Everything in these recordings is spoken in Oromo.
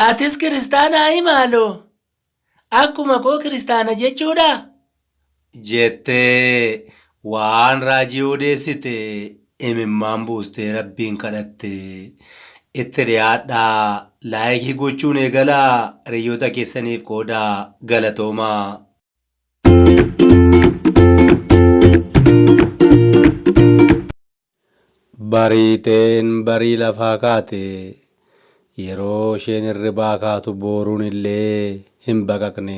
Atis kiristaanaa hii maaloo? Akkuma koo kiristaana jechuudha? jettee waan raajii odeessite. imimmaan buustee rabbiin kadhatte itti dhiyaadhaa laayikii gochuun eegalaa hiriyoota keessaniif qoodaa galatoomaa. Bariiteen barii lafaa kaate yeroo isheen hirribaa kaatu booruun illee hin baqaqne.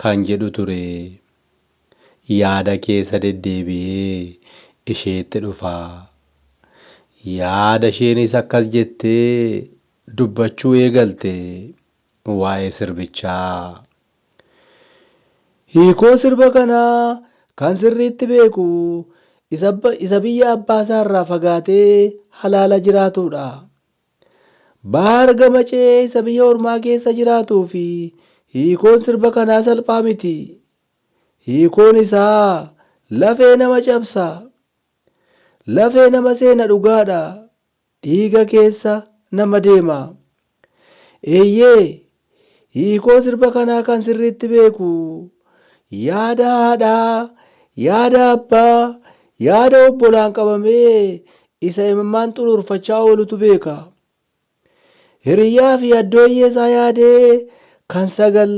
kan jedhu ture. Yaada keessa deddeebi'ee isheetti dhufa. Yaada isheenis akkas jettee dubbachuu eegalte waa'ee sirbichaa. Hiikoo sirba kanaa kan sirriitti beeku isa biyya abbaasaarraa fagaatee halaala jiraatudha. Bahaar Gamacee isa biyya ormaa keessa jiraatuufi hiikoon sirba kanaa salphaa miti. Hiikoon isaa lafee nama cabsa. Lafee nama seena dhugaadha. Dhiiga keessa nama deema. Eeyyee Hiikoo sirba kanaa kan sirriitti beeku yaada haadhaa, yaada abbaa, yaada obbolaan qabamee isa imimmaan xuruurfachaa oolutu beeka. Hiriyyaafi addooyyeesaa yaadee kan sagal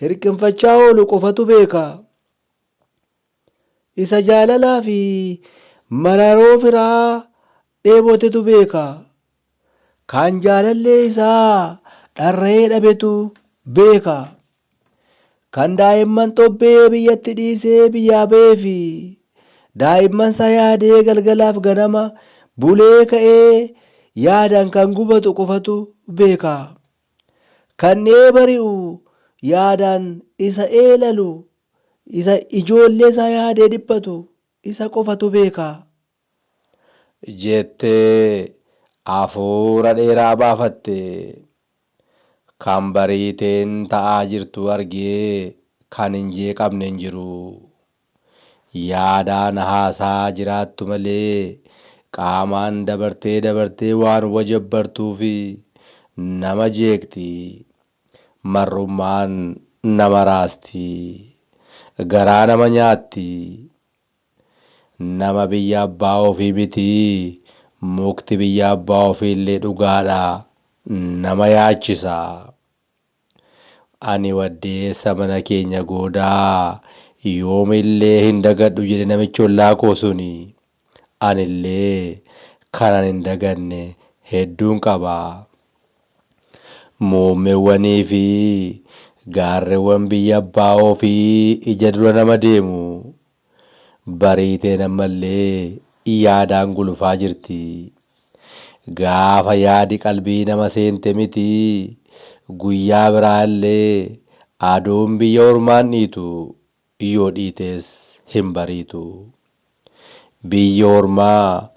hirqinfachaa oolu qofatu beeka. Isa jaalalaafi mararoo firaa dheebotetu beeka. Kan jaalallee isaa dharra'ee dhabetu beeka. Kan daa'imman xobbee biyyatti dhiisee biyyaa ba'ee fi daa'immansaa yaadee galgalaaf ganama bulee ka'ee yaadaan kan gubatu qofatu beeka. Kan dhiyee bari'u yaadaan isa eelalu, isa ijoolleesaa yaadee dhiphatu isa qofatu beeka. jettee afuura dheeraa baafatte. Kan Bariiteen ta'aa jirtu argee kan hin jeeqamne hin jiru. Yaadaan haasa'aa jiraattu malee qaamaan dabartee dabartee waan wajabbartuuf nama jeeqxi. Marrummaan nama raasti. Garaa nama nyaatti. Nama biyya abbaa ofii miti mukti biyya abbaa ofiillee dhugaadha nama yaachisa. Ani waddeessa mana keenya goodaa yoomillee hin dagadhu jedhe namichi ollaa koo suni. Anillee kanan hin daganne hedduun qaba. Muummewwanii fi gaarrewwan biyya abbaa ofii ija dura nama deemu Bariiteen ammallee yaadaan gulufaa jirti. Gaafa yaadi qalbii nama seente miti guyyaa biraa illee aduun biyya ormaan dhiitu yoo dhiitees hin bariitu. Biyyi ormaa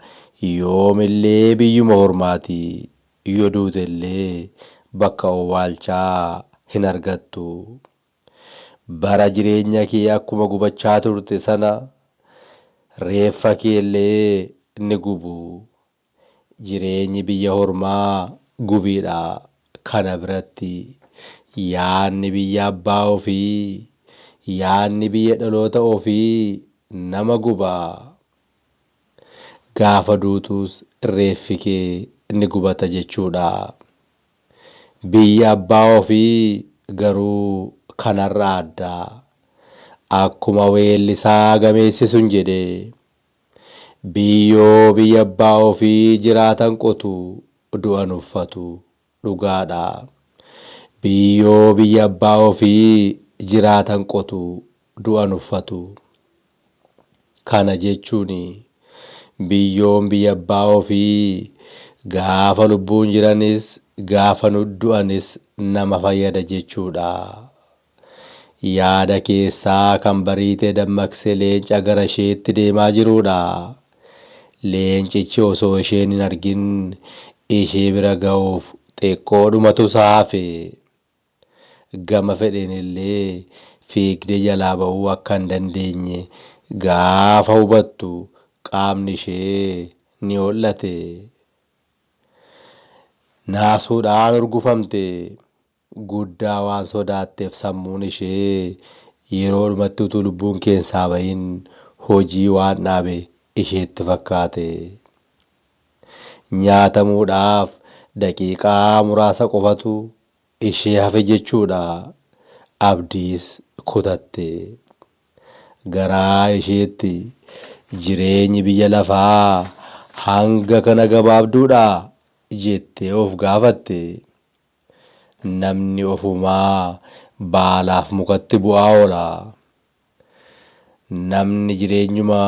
yoom illee biyyuma ormaati. Yoo duute illee bakka owwaalchaa hin argattu. Bara jireenya kee akkuma gubachaa turte sana reeffa kee illee ni gubu. Jireenyi biyya hormaa gubiidha. Kana biratti yaadni biyya abbaa ofii, yaadni biyya dhaloota ofii nama guba. Gaafa duutuus reeffi kee ni gubata jechuudha. Biyyi abbaa ofii garuu kanarraa adda. Akkuma weellisaa gameessi sun jedhe, Biyyoo biyya abbaa ofii jiraatan qotu, du'an uffatu. Dhugaadha. Biyyoo biyya abbaa ofii jiraatan qotu, du'an uffatu. Kana jechuun biyyoon biyya abbaa ofii gaafa lubbuun jiranis gaafa du'anis nama fayyada jechuudha. Yaada keessaa kan Bariitee dammaqse leenca gara isheetti deemaa jiruudha. Leencichi osoo isheen hin argin ishee bira gahuuf xiqqoodhumatu isa hafe. gama fedheenillee fiigdee jalaa ba'uu akka hin dandeenye gaafa hubattu qaamni ishee ni ho'late. Naasuudhaan urgufamte. Guddaa waan sodaatteef sammuun ishee yeroodhumatti utuu lubbuun keessaa bahin hojii waan dhaabe isheetti fakkaate. Nyaatamuudhaaf daqiiqaa muraasa qofatu ishee hafe jechuudha abdiis kutatte garaa isheetti jireenyi biyya lafaa hanga kana gabaabduudha jettee of gaafatte namni ofumaa baalaaf mukatti bu'aa oola namni jireenyuma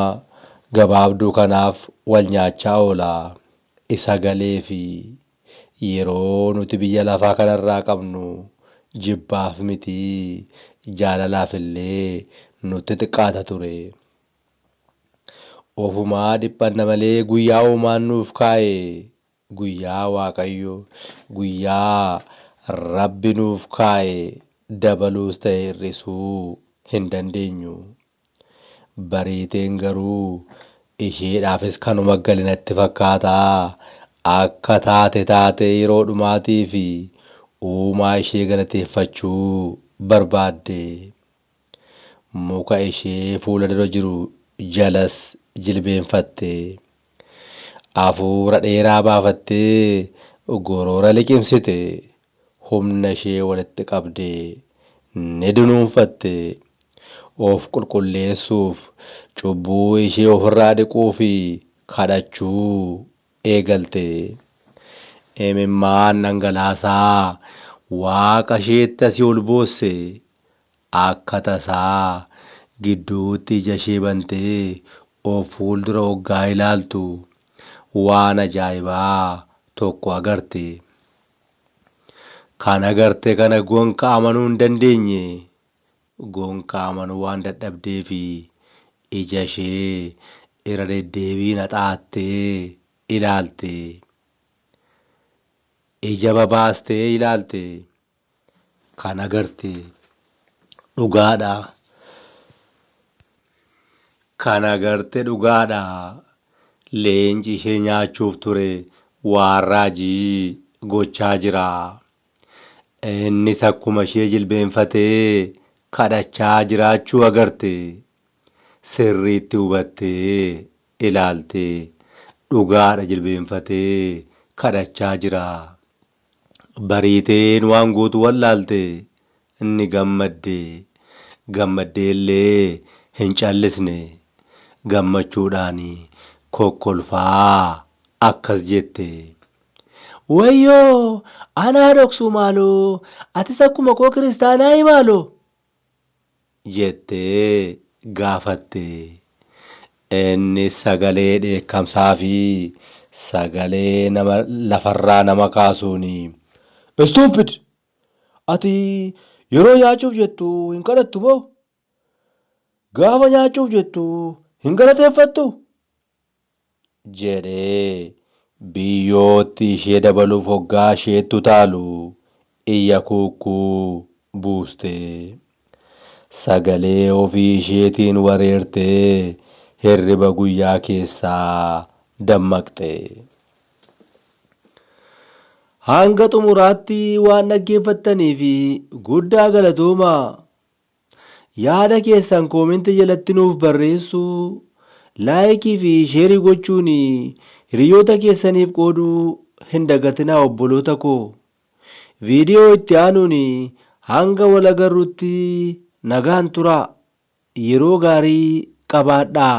gabaabduu kanaaf wal nyaachaa oola isa galeefi Yeroo nuti biyya lafaa kanarraa qabnu jibbaaf miti, jaalalaaf illee nutti xiqqaata ture. Ofumaa dhiphanna malee guyyaa Uumaan nuuf kaa'e, guyyaa Waaqayyo, guyyaa Rabbi nuuf kaa'e dabaluus ta'e hir'isuu hin dandeenyu. Bariiteen garuu isheedhaafis kanuma gale natti fakkaata. Akka taate taatee yeroo dhumaatiif uumaa ishee galateeffachuu barbaadde. Muka ishee fuula dura jiru jalas jilbeenfatte. Afuura dheeraa baafattee goroora liqimsite. humna ishee walitti qabde ni dunuunfatte. Of qulqulleessuuf, cubbuu ishee ofirraa dhiquu fi kadhachuu eegalte. Imimmaan dhangalaasaa Waaqa isheetti asii ol boosse. Akka tasaa gidduutti ija ishee bantee of fuuldura oggaa ilaaltu waan ajaa'ibaa tokko agarte. Kan agarte kana gonka amanuu hin dandeenye. Gonka amanuu waan dadhabdeefi ijashee irra deddeebiin haxaattee ilaalte. Ija babaastee ilaalte. Kan agarte dhugaadha. Kan agarte dhugaadha. leenci ishee nyaachuuf ture waan raajii gochaa jira. Innis akkuma ishee jilbeenfatee kadhachaa jiraachuu agarte. Sirriitti hubattee ilaalte. Dhugaadha jilbeenfatee kadhachaa jira. Bariiteen waan gootu wallaalte. Inni gammadde. Gammaddeellee hin callisne. Gammachuudhaan kokkolfaa akkas jette. Wayyoo! Anaa dhoksuu maaloo! Atis akkuma koo kiristaanaayii maaloo! jettee gaafatte. Innis sagalee dheekkamsaa fi sagalee nama lafarraa nama kaasuun, Stupid! Ati yeroo nyaachuuf jettu hin kadhattu moo? Gaafa nyaachuuf jettu hin galateeffattuu? jedhee biyyootti ishee dabaluuf hoggaa isheetti utaalu iyya kuukkuu buustee. Sagalee ofii isheetiin wareertee hirriba guyyaa keessaa dammaqxe. Hanga xumuraatti waan dhaggeeffattaniif guddaa galatoomaa! Yaada keessan comment jalatti nuuf barreessuu, like fi share gochuun hiriyoota keessaniif qooduu hin dagatinaa obboloota koo. Video itti aanuun hanga wal agarrutti nagaan turaa. Yeroo gaarii qabaadhaa.